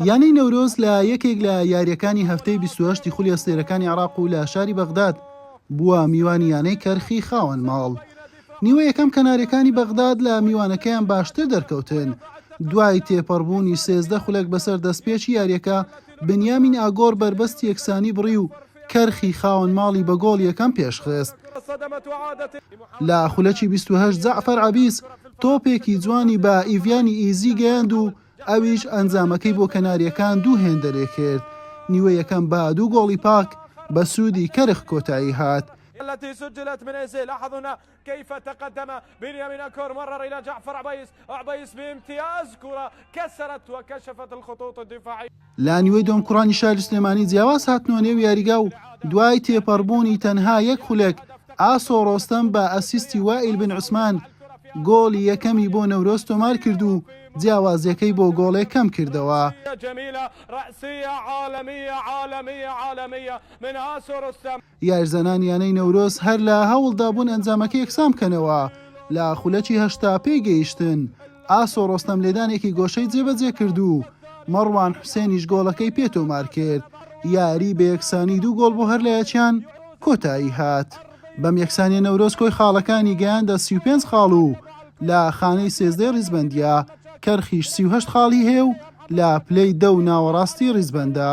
یانەی نەورۆز لە یەکێک لە یارییەکانی هەفتەی بیست و هەشت ی خولی ئەستێرەکانی عێراق و لە شاری بەغداد بووە میوانی یانەی کەرخی خاوەن ماڵ. نیوە یەکەم کەناریەکانی بەغداد لە میوانەکەیان باشتر دەرکەوتن، دوای تێپەڕبوونی سێزدە خولەک بەسەر دەستپێکی یارییەکە، بنیامین ئاگۆر بەربەستی یەکسانی بڕی و کەرخی خاوەن ماڵی بە گۆڵ یەکەم پێشخست. لە خولەکی بیست و هەشت جەعفەر عەبیس تۆپێکی جوانی بە ئیڤیانی ئیزی گەیاند و ئەویش ئەنجامەکەی بۆ کەنارییەکان دوو هێندە لێکرد، نیوەی یەکەم بە دوو گۆڵی پاک بە سوودی کەرخ کۆتایی هات. کیف تقدم بنیامین اکور مر الی جعفر عبیس عبیس بامتیاز کورە کسرت و کشفت الخطوط الدفاعیە. لە نیوەی دووەم کوڕانی شاری سلێمانی جیاواز هاتنەوە نێو یاریگا و دوای تێپەڕبوونی تەنها یەک خولەک، ئاسۆ ڕۆستەم بە ئەسیستی وائیل بن عوسمان گۆڵی یەکەمی بۆ نەورۆز تۆمارکرد و جیاوازییەکەی بۆ گۆڵێک کەمکردەوە. یارزانان یانەی نەورۆز هەر لە هەوڵدابوون ئەنجامەکە یەکسان بکەنەوە، لە خولەکی هەشتا پێی گەیشتن، ئاسۆ ڕۆستەم لێدانێکی گۆشەی جێبەجێ کرد و مەڕوان حوسێنیش گۆڵەکەی پێ تۆمار کرد، یاری بە یەکسانی دوو گۆڵ بۆ هەر لایەکیان کۆتایی هات. بەم یەکسانییە نەورۆز کۆی خاڵەکانی گەیاندە سی و پێنج خاڵ و لە خانەی سێزدەی ڕیزبەندییە، کەرخیش سی و هەشت خاڵی هەیە و لە پلەی دە و ناوەڕاستی ڕیزبەندە.